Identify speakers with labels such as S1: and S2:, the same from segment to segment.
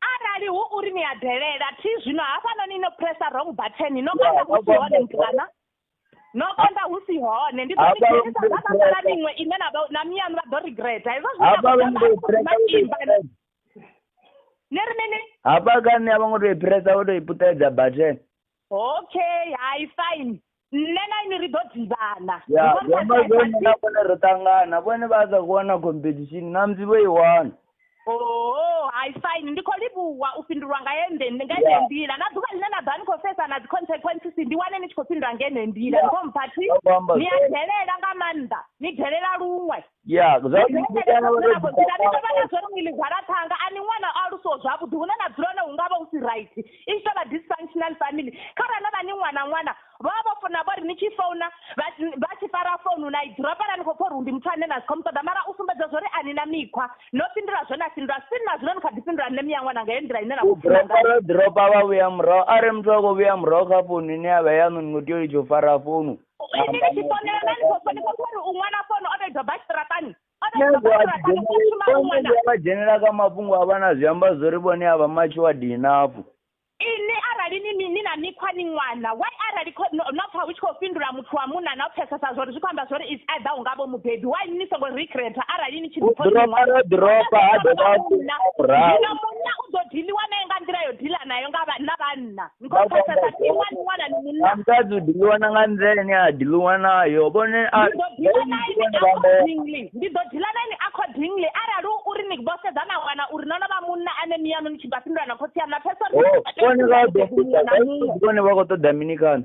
S1: arali hu
S2: uri ni a delela thi zwino hafhanoni no pressa wrong button no konda hu si hone mtukana no konda hu si hone ndi ḓo ni dzhenisa dza na sala miṅwe ine na na miyanu vha ḓo regreta hezwo zwinaimba ni ri mini hafha
S1: kani a vho ngo to i pressa vho to i puṱedza button okay
S2: hai fine nṋe na ini ri ḓo ḓivhana ya zwiamba zwone
S1: na vhone ri ṱangana vhone vha sa khou wana competition na musi vho i wana oo
S2: hai fine ndi khou livhuwa u fhindulwa nga yende nga ene nḓila na ḓuvha ḽine na ḓa ni khou sedza na dzi consequences ndi wane ni tshi khou fhindula nga ene nḓila ni khou mpha thi ni a delela nga maanḓa ni delela luṅwe ya zwa uri ndi kana uri ndi kana zwa uri ngili gwala thanga ani ṅwana a luso zwavhuḓi hune na dzula na hunga vha u si right i tshi tovha dysfunctional family kha ra na vhani ṅwana ṅwana vha vha fona vha ri ni tshi founa vha vha tshi fara founu na i dzula fara ni kho pfha uri ndi muthu ane na sikhou muṱoḓa mara u sumbedza zwori ani na mikhwa no fhindula zwo na fhindula sini na zwino ni kha ḓi fhindula nṋe miya ṅwana nga ye nḓila ine na khou dropa
S1: vha vhuya murahu are muthu a khou vhuya murahu kha founu ine ya vha yanu ni ngo tea u litsho fara founu Ndi ni tshi
S2: fonela na ni khou fo- ni khou pfa uri u ṅwana fono o vhedzwa basi ṱiratani o vhedzwa basi ṱiratani u shuma u
S1: ṅwana vha dzhenela kha mafhungo a vha na zwi amba zwori vhone a vha matshi wa dinafhu ini
S2: arali ni mi- ni na mikhwa ni ṅwana why arali kho- no no pfa hu tshi khou fhindula muthu wa munna na u pfesesa zwori zwi khou amba zwori is either u nga vho mubebi why ni songo recreata arali ni tshi ḓipfa uri ni ḓiropa ṅwana? ro ḓiropa ha dovha a Munna. fhura murahu Zwino munna u ḓo diliwa naye nga nḓila yo dila nayo nga vha- na vhanna ni khou pfesesa ḓiwa ni wana ni munna musadzi u ḓiḽiwa na nga
S1: nḓila ine a ḓiḽiwa nayo vhone a ndi ḓo ḓila na ini accordingly
S2: ndi ḓo ḓila na ini accordingly arali u uri ni vho sedza na wana uri no no vha munna ane miyaṋu ni tshi nga fhindula na khotsi yaṋu na pfesesa uri vhone vha
S1: ḓo vhone vha khou ṱoḓa mini kana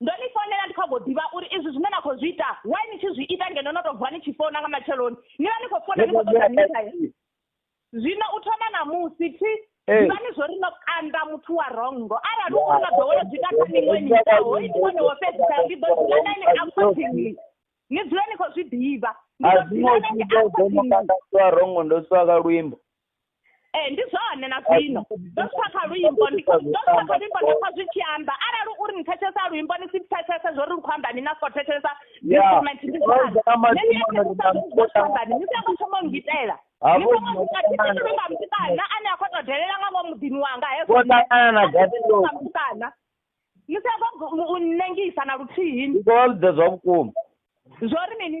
S1: ndo ni
S2: founela ndi kha go ḓivha uri izwi zwine na khou zwi ita why ni tshi zwi ita ngeno no tou vuwa ni tshi founa nga matsheloni ni vha ni khou founa ni khou ṱoḓa misae zwino u thoma ṋamusi thi ḓivha ni zwo ri no kanda muthu wa rongo arali u khou nga ḓowela zwi ita kha miṅwe miṱa hoi ndi wone wo fhedzisa ndi ḓo dzula na ene accordingly ni dzule ni khou zwi ḓivha a zwi ngo zwi ḓo ḓo no kanda
S1: muthu wa rongo ndo swa ka luimbo ee ndi
S2: zwone na zwino ndo pfa kha luimbo ndo pfa kha luimbo nda pfa zwi tshi amba arali uri ni thetshelesa luimbo ni si thetshelesa zwo ri lu khou amba ni na khou thetshelesa instrument ndi zwone ni songo thoma ngitela ni songo ngitela nga mutukana ane a khou tou delela nga ngomu muḓini wanga hezwo nga mutukana ni sa khou nnengisa na luthihi ndi khou vha vhudza zwa vhukuma
S1: zwo ri
S2: mini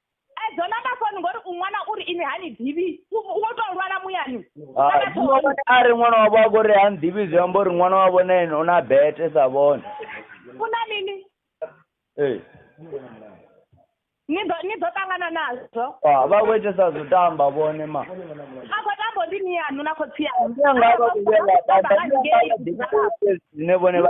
S1: edzo namba
S2: foni ngori u ṅwana uri ini ha ni ḓivhi wo tou lwala muyani a
S1: ri ṅwana wavho a kori ha nḓivhi zwi amba uri ṅwana wavho na ene u na bete sa vhone
S2: u na
S1: mini
S2: ee ni ḓo ni ḓo ṱangana nazwo ah, vha khou itesa
S1: zwo tamba vhone ma a khou tambo
S2: ndi ni yanu na khotsi yanu nga vha vhuyela dzine
S1: vhone vha